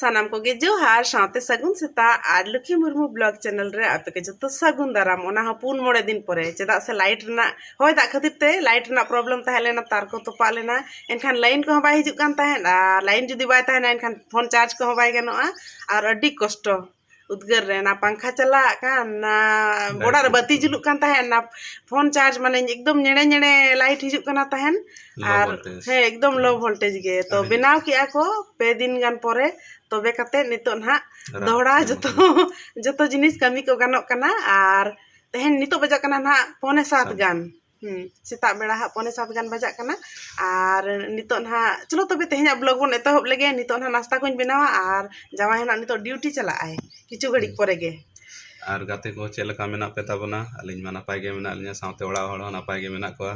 ᱥᱟᱱᱟᱢ ᱠᱚᱜᱮ ᱡᱚᱦᱟᱨ ᱥᱟᱶᱛᱮ ᱥᱟᱹᱜᱩᱱ ᱥᱮᱛᱟᱜ ᱟᱨ ᱞᱩᱠᱷᱤ ᱢᱩᱨᱢᱩ ᱵᱞᱚᱜ ᱪᱮᱱᱮᱞ ᱨᱮ ᱟᱯᱮ ᱠᱚ ᱡᱚᱛᱚ ᱥᱟᱹᱜᱩᱱ ᱫᱟᱨᱟᱢ ᱚᱱᱟ ᱦᱚᱸ ᱯᱩᱱ ᱢᱚᱬᱮ ᱫᱤᱱ ᱯᱚᱨᱮ ᱪᱮᱫᱟᱜ ᱥᱮ ᱞᱟᱭᱤᱴ ᱨᱮᱱᱟᱜ ᱦᱚᱭ ᱫᱟᱜ ᱠᱷᱟᱹᱛᱤᱨ ᱛᱮ ᱞᱟᱭᱤᱴ ᱨᱮᱱᱟᱜ ᱯᱨᱚᱵᱞᱮᱢ ᱛᱟᱦᱮᱸ ᱞᱮᱱᱟ ᱛᱟᱨ ᱠᱚ ᱛᱚᱯᱟᱜ ᱞᱮᱱᱟ ᱮᱱᱠᱷᱟᱱ ᱞᱟᱭᱤᱱ ᱠᱚᱦᱚᱸ ᱵᱟᱭ ᱦᱤᱡᱩᱜ ᱠᱟᱱ ᱛᱟᱦᱮᱸᱫ ᱟᱨ ᱞᱟᱭᱤᱱ ᱡᱩᱫᱤ ᱵᱟᱭ ᱛᱟᱦᱮᱱᱟ ᱮᱱᱠᱷᱟᱱ ᱯᱷᱳᱱ ᱪᱟᱨᱡᱽ ᱠᱚᱦᱚᱸ ᱵᱟᱭ ᱜᱟᱱᱚᱜᱼᱟ ᱟᱨ ᱟᱹᱰᱤ ᱠᱚᱥᱴᱚ ᱩᱫᱽᱜᱟᱹᱨ ᱨᱮ ᱚᱱᱟ ᱯᱟᱝᱠᱷᱟ ᱪᱟᱞᱟᱜ ᱠᱟᱱ ᱚᱱᱟ ᱚᱲᱟᱜ ᱨᱮ ᱵᱟᱹᱛᱤ ᱡᱩᱞᱩᱜ ᱠᱟᱱ ᱛᱟᱦᱮᱸᱫ ᱚᱱᱟ ᱯᱷᱳᱱ ᱪᱟᱨᱡᱽ ᱢᱟᱱᱮ ᱮᱠᱫᱚᱢ ᱧᱮᱲᱮ ᱧᱮᱲᱮ ᱞᱟᱭᱤᱴ ᱦᱤᱡᱩᱜ ᱠᱟᱱᱟ ᱛᱟᱦᱮᱸᱫ ᱟᱨ ᱦᱮᱸ ᱮᱠᱫᱚᱢ ᱞᱳ ᱵᱷᱳᱞᱴᱮᱡᱽ ᱜᱮ ᱛᱚ ᱵᱮᱱᱟᱣ ᱠᱮᱜᱼᱟ ᱠᱚ ᱯᱮ ᱫᱤᱱ ᱜᱟᱱ ᱯᱚᱨᱮ ᱛᱚᱵᱮ ᱠᱟᱛᱮᱫ ᱱᱤᱛᱚᱜ ᱱᱟᱦᱟᱜ ᱫᱚᱦᱲᱟ ᱡᱚᱛᱚ ᱡᱚᱛᱚ ᱡᱤᱱᱤᱥ ᱠᱟᱹᱢᱤ ᱠᱚ ᱜᱟᱱᱚᱜ ᱠᱟᱱᱟ ᱟᱨ ᱛᱮᱦᱮᱧ ᱱᱤᱛᱚᱜ ᱵᱟᱡᱟᱜ ᱠᱟᱱᱟ ᱱᱟᱦᱟᱜ ᱯᱚᱱᱮ ᱥᱟᱛ ᱜᱟᱱ ᱥᱮᱛᱟᱜ ᱵᱮᱲᱟ ᱦᱟᱸᱜ ᱯᱚᱱᱮ ᱥᱟᱛ ᱜᱟᱱ ᱵᱟᱡᱟᱜ ᱠᱟᱱᱟ ᱟᱨ ᱱᱤᱛᱚᱜ ᱱᱟᱦᱟᱜ ᱪᱚᱞᱚ ᱛᱚᱵᱮ ᱛᱮᱦᱮᱧᱟᱜ ᱵᱞᱚᱜᱽ ᱵᱚᱱ ᱮᱛᱚᱦᱚᱵ ᱞᱮᱜᱮ ᱱᱤᱛᱚᱜ ᱱᱟᱦᱟᱜ ᱱᱟᱥᱛᱟ ᱠᱚᱧ ᱵᱮᱱᱟᱣᱟ ᱟᱨ ᱡᱟᱶᱟᱭ ᱦᱚᱸ ᱱᱟᱦᱟᱜ ᱱᱤᱛᱚᱜ ᱰᱤᱭᱩᱴᱤ ᱪᱟᱞᱟᱜ ᱟᱭ ᱠᱤᱪᱷᱩ ᱜᱷᱟᱹᱲᱤᱡ ᱯᱚᱨᱮ ᱜᱮ ᱟᱨ ᱜᱟᱛᱮ ᱠᱚ ᱪᱮᱫ ᱞᱮᱠᱟ ᱢᱮᱱᱟᱜ ᱯᱮ ᱛᱟᱵᱚᱱᱟ ᱟᱹᱞᱤᱧ ᱢᱟ ᱱᱟᱯᱟᱭ ᱜᱮ ᱢᱮᱱᱟᱜ ᱞᱤᱧᱟ ᱥᱟᱶᱛᱮ ᱚᱲᱟᱜ ᱦᱚᱲ ᱦᱚᱸ ᱱᱟᱯᱟᱭ ᱜᱮ ᱢᱮᱱᱟᱜ ᱠᱚᱣᱟ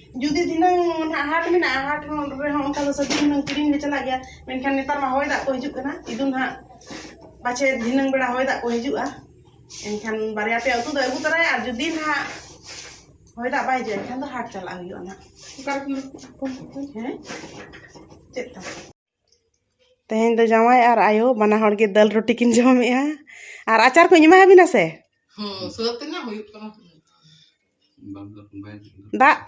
ᱡᱩᱫᱤ ᱫᱷᱤᱱᱟᱹᱝ ᱱᱟᱦᱟᱜ ᱦᱟᱴ ᱢᱮᱱᱟᱜᱼᱟ ᱦᱟᱴ ᱦᱚᱸ ᱨᱮᱦᱚᱸ ᱚᱱᱠᱟ ᱫᱚ ᱥᱚᱵᱽᱡᱤ ᱦᱩᱱᱟᱹᱝ ᱠᱤᱨᱤᱧ ᱞᱮ ᱪᱟᱞᱟᱜ ᱜᱮᱭᱟ ᱢᱮᱱᱠᱷᱟᱱ ᱱᱮᱛᱟᱨ ᱢᱟ ᱦᱚᱭ ᱫᱟᱜ ᱠᱚ ᱦᱤᱡᱩᱜ ᱠᱟᱱᱟ ᱤᱫᱩ ᱱᱟᱦᱟᱜ ᱯᱟᱪᱷᱮ ᱫᱷᱤᱱᱟᱹᱝ ᱵᱮᱲᱟ ᱦᱚᱭ ᱫᱟᱜ ᱠᱚ ᱦᱤᱡᱩᱜᱼᱟ ᱮᱱᱠᱷᱟᱱ ᱵᱟᱨᱭᱟ ᱯᱮᱭᱟ ᱩᱛᱩ ᱫᱚᱭ ᱟᱹᱜᱩ ᱛᱚᱨᱟᱭᱟ ᱟᱨ ᱡᱩᱫᱤ ᱱᱟᱦᱟᱜ ᱦᱚᱭ ᱫᱟᱜ ᱵᱟᱭ ᱦᱤᱡᱩᱜᱼᱟ ᱮᱱᱠᱷᱟᱱ ᱫᱚ ᱦᱟᱴ ᱪᱟᱞᱟᱜ ᱦᱩᱭᱩᱜᱼᱟ ᱱᱟᱦᱟᱜ ᱚᱠᱟ ᱨᱮ ᱦᱮᱸ ᱪᱮᱫ ᱛᱟᱢ ᱛᱮᱦᱮᱧ ᱫᱚ ᱡᱟᱶᱟᱭ ᱟᱨ ᱟᱭᱳ ᱵᱟᱱᱟ ᱦᱚᱲ ᱜᱮ ᱫᱟᱹᱞ ᱨᱩᱴᱤ ᱠᱤᱱ ᱡᱚᱢᱮᱜᱼᱟ ᱟᱨ ᱟᱪᱟᱨ ᱠᱚᱧ ᱮᱢᱟ ᱟᱹᱵᱤᱱᱟ ᱥᱮ ᱦᱩᱸ ᱥᱟᱹᱛ ᱮᱱᱟ ᱦᱩᱭᱩᱜ ᱠᱟᱱᱟ ᱫᱟᱜ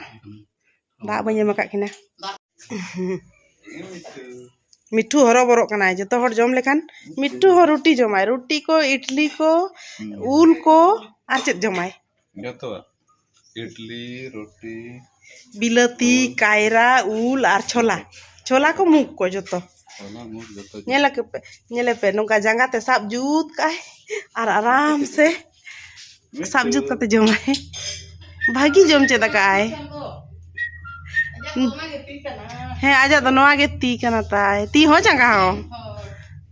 ᱫᱟᱜ ᱵᱟᱹᱧ ᱮᱢ ᱟᱠᱟᱫ ᱠᱤᱱᱟ ᱢᱤᱴᱷᱩ ᱦᱚᱨᱚ ᱵᱚᱨᱚᱜ ᱠᱟᱱᱟᱭ ᱡᱚᱛᱚ ᱦᱚᱲ ᱡᱚᱢ ᱞᱮᱠᱷᱟᱱ ᱢᱤᱴᱷᱩ ᱦᱚᱸ ᱨᱩᱴᱤ ᱡᱚᱢᱟᱭ ᱨᱩᱴᱤ ᱠᱚ ᱤᱰᱞᱤ ᱠᱚ ᱩᱞ ᱠᱚ ᱟᱨ ᱪᱮᱫ ᱡᱚᱢᱟᱭ ᱤᱰᱞᱤ ᱨᱩᱴᱤ ᱵᱤᱞᱟᱹᱛᱤ ᱠᱟᱭᱨᱟ ᱩᱞ ᱟᱨ ᱪᱷᱚᱞᱟ ᱪᱷᱚᱞᱟ ᱠᱚ ᱢᱩᱜᱽ ᱠᱚ ᱡᱚᱛᱚ ᱧᱮᱞ ᱟᱯᱮ ᱧᱮᱞ ᱟᱯᱮ ᱱᱚᱝᱠᱟ ᱡᱟᱸᱜᱟ ᱛᱮ ᱥᱟᱵ ᱡᱩᱛ ᱠᱟᱜ ᱟᱭ ᱟᱨ ᱟᱨᱟᱢ ᱥᱮ ᱥᱟᱵ ᱡᱩᱛ ᱠᱟᱛᱮ ᱡᱚᱢᱟᱭ ᱵᱷᱟᱹᱜᱤ ᱡᱚᱢ ᱪᱮᱫ ᱟᱠᱟᱫ ᱟᱭ ᱦᱮᱸ ᱟᱡᱟᱜ ᱫᱚ ᱱᱚᱣᱟ ᱜᱮ ᱛᱤ ᱠᱟᱱᱟ ᱛᱟᱭ ᱛᱤ ᱦᱚᱸ ᱡᱟᱸᱜᱟ ᱦᱚᱸ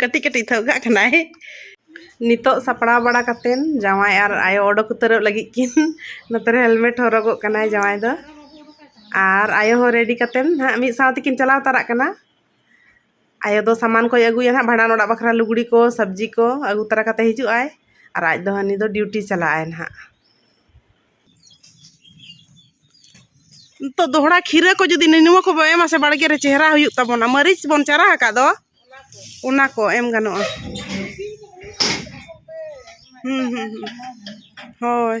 ᱠᱟᱹᱴᱤᱡ ᱠᱟᱹᱴᱤᱡ ᱛᱮ ᱚᱜᱟᱜ ᱠᱟᱱᱟᱭ ᱱᱤᱛᱚᱜ ᱥᱟᱯᱲᱟᱣ ᱵᱟᱲᱟ ᱠᱟᱛᱮᱱ ᱡᱟᱶᱟᱭ ᱟᱨ ᱟᱭᱳ ᱚᱰᱚᱠ ᱩᱛᱟᱹᱨᱚᱜ ᱞᱟᱹᱜᱤᱫ ᱠᱤᱱ ᱱᱚᱛᱮ ᱨᱮ ᱦᱮᱞᱢᱮᱴ ᱦᱚᱨᱚᱜᱚᱜ ᱠᱟᱱᱟᱭ ᱡᱟᱶᱟᱭ ᱫᱚ ᱟᱨ ᱟᱭᱳ ᱦᱚᱸ ᱨᱮᱰᱤ ᱠᱟᱛᱮᱱ ᱦᱟᱸᱜ ᱢᱤᱫ ᱥᱟᱶ ᱛᱮᱠᱤᱱ ᱪᱟᱞᱟᱣ ᱛᱟᱨᱟᱜ ᱠᱟᱱᱟ ᱟᱭᱳ ᱫᱚ ᱥᱟᱢᱟᱱ ᱠᱚᱭ ᱟᱹᱜᱩᱭᱟ ᱦᱟᱸᱜ ᱵᱷᱟᱸᱰᱟᱱ ᱚᱲᱟᱜ ᱵᱟᱠᱷᱨᱟ ᱞᱩᱜᱽᱲᱤ ᱠᱚ ᱥᱚᱵᱽᱡᱤ ᱠᱚ ᱟᱹᱜᱩ ᱛᱟᱨᱟ ᱠᱟᱛᱮ ᱦᱤᱡᱩᱜ ᱟᱭ ᱟᱨ ᱟᱡ ᱫᱚ ᱦᱟᱹᱱᱤ ᱫᱚ ᱰᱤᱭᱩᱴᱤ ᱪᱟᱞᱟᱜ ᱟᱭ ᱦᱟᱸᱜ ᱱᱤᱛᱚᱜ ᱫᱚᱦᱲᱟ ᱠᱷᱤᱨᱟᱹ ᱠᱚ ᱡᱩᱫᱤ ᱱᱤᱱᱩᱣᱟ ᱠᱚ ᱵᱚᱱ ᱮᱢᱟ ᱥᱮ ᱵᱟᱲᱜᱮ ᱨᱮ ᱪᱮᱦᱨᱟ ᱦᱩᱭᱩᱜ ᱛᱟᱵᱚᱱᱟ ᱢᱟᱹᱨᱤᱪ ᱵᱚᱱ ᱪᱟᱨᱟ ᱟᱠᱟᱫ ᱫᱚ ᱚᱱᱟ ᱠᱚ ᱮᱢ ᱜᱟᱱᱚᱜᱼᱟ ᱦᱩᱸ ᱦᱩᱸ ᱦᱩᱸ ᱦᱳᱭ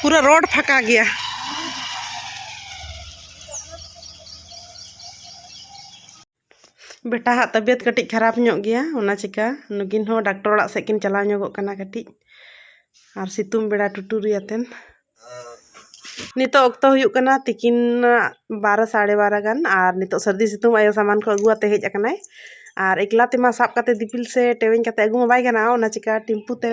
ᱯᱩᱨᱟᱹ ᱨᱳᱰ ᱯᱷᱟᱸᱠᱟ ᱜᱮᱭᱟ ᱵᱮᱴᱟ ᱦᱟᱜ ᱛᱟᱵᱤᱭᱟᱛ ᱠᱟᱹᱴᱤᱡ ᱠᱷᱟᱨᱟᱯ ᱧᱚᱜ ᱜᱮᱭᱟ ᱚᱱᱟ ᱪᱤᱠᱟ ᱱᱩᱠᱤᱱ ᱦᱚᱸ ᱰᱟᱠᱴᱚᱨ ᱚᱲᱟᱜ ᱥᱮᱫ ᱠᱤᱱ ᱪᱟᱞᱟᱣ ᱧᱚᱜᱚᱜ ᱠᱟᱱᱟ ᱠᱟᱹᱴᱤᱡ ᱟᱨ ᱥᱤᱛᱩᱝ ᱵᱮᱲᱟ ᱴᱩᱴᱩᱨᱤ ᱟᱛᱮᱱ ᱱᱤᱛᱚᱜ ᱚᱠᱛᱚ ᱦᱩᱭᱩᱜ ᱠᱟᱱᱟ ᱛᱤᱠᱤᱱ ᱵᱟᱨᱚ ᱥᱟᱲᱮ ᱵᱟᱨᱚ ᱜᱟᱱ ᱟᱨ ᱱᱤᱛᱚᱜ ᱥᱟᱹᱨᱫᱤ ᱥᱤᱛᱩᱝ ᱟᱭᱳ ᱥᱟᱢᱟᱱ ᱠᱚ ᱟᱹᱜᱩ ᱟᱛᱮ ᱦᱮᱡ ᱟᱠᱟᱱᱟᱭ ᱟᱨ ᱮᱠᱞᱟ ᱛᱮᱢᱟ ᱥᱟᱵ ᱠᱟᱛᱮ ᱫᱤᱯᱤᱞ ᱥᱮ ᱴᱮᱣᱮᱧ ᱠᱟᱛᱮ ᱟᱹᱜᱩ ᱢᱟ ᱵᱟᱭ ᱜᱟᱱᱚᱜᱼᱟ ᱚᱱᱟ ᱪᱤᱠᱟ ᱴᱮᱢᱯᱩ ᱛᱮ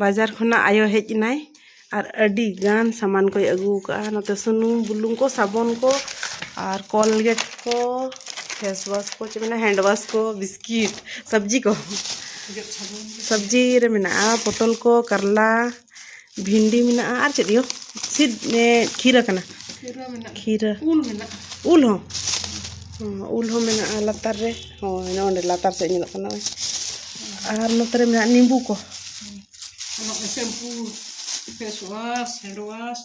ᱵᱟᱡᱟᱨ ᱠᱷᱚᱱᱟᱜ ᱟᱭᱳ ᱦᱮᱡ ᱮᱱᱟᱭ ᱟᱨ ᱟᱹᱰᱤ ᱜᱟᱱ ᱥᱟᱢᱟᱱ ᱠᱚᱭ ᱟᱹᱜᱩ ᱟᱠᱟᱫᱼᱟ ᱱᱚᱛᱮ ᱥᱩᱱᱩᱢ ᱵᱩᱞᱩᱝ ᱠᱚ ᱥᱟᱵᱚᱱ ᱠᱚ ᱟᱨ ᱠᱚᱞᱜᱮᱴ ᱠᱚ ᱯᱷᱮᱥ ᱣᱟᱥ ᱠᱚ ᱪᱮᱫ ᱢᱮᱱᱟ ᱦᱮᱱᱰ ᱣᱟᱥ ᱠᱚ ᱵᱤᱥᱠᱤᱴ ᱥᱚᱵᱽᱡᱤ ᱠᱚ ᱥᱚᱵᱽᱡᱤ ᱨᱮ ᱢᱮᱱᱟᱜᱼᱟ ᱯᱚᱴᱚᱞ ᱠᱚ ᱠᱟᱨᱞᱟ ᱵᱷᱤᱱᱰᱤ ᱢᱮᱱᱟᱜᱼᱟ ᱟᱨ ᱪᱮᱫ ᱤᱭᱟᱹ ᱥᱤᱫ ᱠᱷᱤᱨᱟᱹ ᱠᱟᱱᱟ ᱠᱷᱤᱨᱟᱹ ᱩᱞ ᱢᱮᱱᱟᱜᱼᱟ ᱩᱞ ᱦᱚᱸ ᱩᱞ ᱦᱚᱸ ᱢᱮᱱᱟᱜᱼᱟ ᱞᱟᱛᱟᱨ ᱨᱮ ᱦᱳᱭ ᱱᱚᱸᱰᱮ ᱞᱟᱛᱟᱨ ᱥᱮᱫ ᱧᱮᱞᱚᱜ ᱠᱟᱱᱟ ᱟᱨ ᱱᱚᱛᱮ ᱨᱮ ᱢᱮᱱᱟᱜᱼᱟ ᱱᱤᱢᱵᱩ ᱠᱚ shampoo face wash hand wash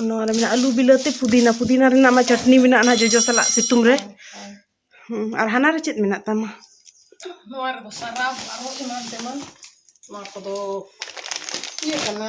ᱱᱚᱣᱟ ᱨᱮ ᱢᱮᱱᱟᱜᱼᱟ ᱟᱹᱞᱩ ᱵᱤᱞᱟᱹᱛᱤ ᱯᱩᱫᱤᱱᱟ ᱯᱩᱫᱤᱱᱟ ᱨᱮᱱᱟᱜ ᱢᱟ ᱪᱟᱴᱱᱤ ᱢᱮᱱᱟᱜᱼᱟ ᱱᱟᱦᱟᱜ ᱡᱚᱡᱚ ᱥᱟᱞᱟᱜ ᱥᱤᱛᱩᱝ ᱨᱮ ᱟᱨ ᱦᱟᱱᱟ ᱨᱮ ᱪᱮᱫ ᱢᱮᱱᱟᱜ ᱛᱟᱢᱟ ᱱᱚᱣᱟ ᱨᱮᱫᱚ ᱥᱟᱨᱟᱯ ᱟᱨᱦᱚᱸ ᱮᱢᱟᱱ ᱛᱮᱢᱟᱱ ᱱᱚᱣᱟ ᱠᱚᱫᱚ ᱤᱭᱟᱹ ᱠᱟᱱᱟ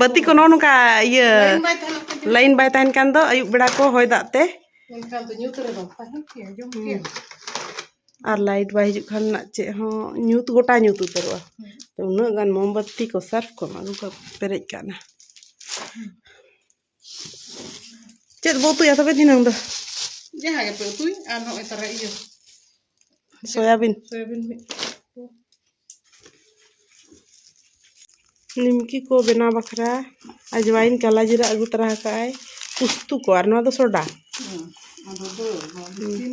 ᱵᱟᱹᱛᱤ ᱠᱚ ᱱᱚᱜᱼᱚ ᱱᱚᱝᱠᱟ ᱤᱭᱟᱹ ᱞᱟᱭᱤᱱ ᱵᱟᱭ ᱛᱟᱦᱮᱱ ᱠᱟᱱ ᱫᱚ ᱟᱹᱭᱩᱵ ᱵᱮᱲᱟ ᱠᱚ ᱦᱚᱭ ᱫᱟᱜ ᱛᱮ ᱟᱨ ᱞᱟᱭᱤᱴ ᱵᱟᱭ ᱦᱤᱡᱩᱜ ᱠᱷᱟᱱ ᱪᱮᱫ ᱦᱚᱸ ᱧᱩᱛ ᱜᱚᱴᱟ ᱧᱩᱛ ᱩᱛᱟᱹᱨᱚᱜᱼᱟ ᱛᱚ ᱩᱱᱟᱹᱜ ᱜᱟᱱ ᱢᱳᱢᱵᱟᱛᱤ ᱠᱚ ᱥᱟᱨᱯ ᱠᱚ ᱟᱹᱜᱩ ᱠᱟᱜ ᱯᱮᱨᱮᱡ ᱠᱟᱜ ᱱᱟ ᱪᱮᱫ ᱵᱚ ᱩᱛᱩᱭᱟ ᱛᱚᱵᱮ ᱫᱷᱤᱱᱟᱹᱝ ᱫᱚ ᱡᱟᱦᱟᱸ ᱜᱮᱯᱮ ᱩᱛᱩᱭ ᱟᱨ ᱱᱚᱜᱼᱚᱭ ᱛᱟᱨᱟ ᱤᱭᱟᱹ ᱥᱚᱭᱟᱵᱤᱱ ᱥᱚᱭᱟᱵᱤᱱ ᱢᱤᱫ ᱱᱤᱢᱠᱤ ᱠᱚ ᱵᱮᱱᱟᱣ ᱵᱟᱠᱷᱨᱟ ᱟᱡᱽᱣᱟᱭᱤᱱ ᱠᱟᱞᱟ ᱡᱤᱨᱟᱹ ᱟᱹᱜᱩ ᱛᱟᱨᱟ ᱟᱠᱟᱫᱼᱟᱭ ᱯᱩᱥᱛᱩ ᱠᱚ ᱟᱨ ᱱᱚᱣᱟ ᱫᱚ ᱥᱚᱰᱟ ᱟᱫᱚ ᱫᱚ ᱛᱤᱱ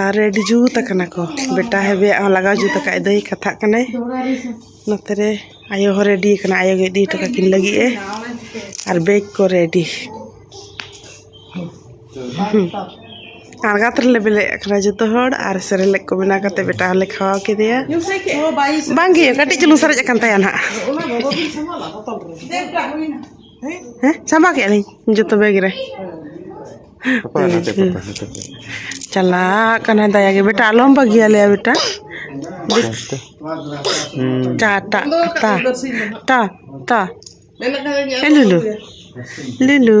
ᱟᱨ ᱨᱮᱰᱤ ᱡᱩᱛ ᱠᱟᱱᱟ ᱠᱚ ᱵᱮᱴᱟ ᱦᱮᱵᱤᱭᱟᱜ ᱦᱚᱸ ᱞᱟᱜᱟᱣ ᱡᱩᱛ ᱠᱟᱜ ᱫᱚᱭ ᱠᱟᱛᱷᱟᱜ ᱠᱟᱱᱟᱭ ᱱᱚᱛᱮ ᱨᱮ ᱟᱭᱳ ᱦᱚᱸ ᱨᱮᱰᱤ ᱠᱟᱱᱟᱭ ᱟᱭᱳ ᱜᱮ ᱤᱫᱤ ᱦᱚᱴᱚ ᱠᱟᱹᱠᱤᱱ ᱞᱟᱹᱜᱤᱫ ᱮ ᱟᱨ ᱵᱮᱜᱽ ᱠᱚ ᱨᱮᱰᱤ ᱟᱬᱜᱟᱛ ᱨᱮᱞᱮ ᱵᱮᱞᱮᱫ ᱠᱟᱱᱟ ᱡᱚᱛᱚ ᱦᱚᱲ ᱟᱨ ᱥᱮᱨᱮᱞᱮᱠ ᱠᱚ ᱵᱮᱱᱟᱣ ᱠᱟᱛᱮ ᱵᱮᱴᱟ ᱦᱚᱸᱞᱮ ᱠᱷᱟᱣᱟᱣ ᱠᱮᱫᱮᱭᱟ ᱵᱟᱝᱜᱮ ᱠᱟᱹᱴᱤᱡ ᱪᱩᱞᱩᱝ ᱥᱟᱨᱮᱡ ᱟᱠᱟᱱ ᱛᱟᱭᱟ ᱱᱟᱦᱟᱜ ᱦᱮᱸ ᱪᱟᱵᱟ ᱠᱮᱫ ᱞᱤᱧ ᱡᱚᱛᱚ ᱵᱮᱜᱽ ᱨᱮ ᱪᱟᱞᱟᱜ ᱠᱟᱱᱟᱭ ᱫᱟᱭᱟ ᱜᱮ ᱵᱮᱴᱟ ᱟᱞᱚᱢ ᱵᱟᱹᱜᱤᱭᱟ ᱞᱮᱭᱟ ᱵᱮᱴᱟ ᱴᱟ ᱴᱟ ᱴᱟ ᱴᱟ ᱴᱟ ᱮ ᱞᱩᱞᱩ ᱞᱩᱞᱩ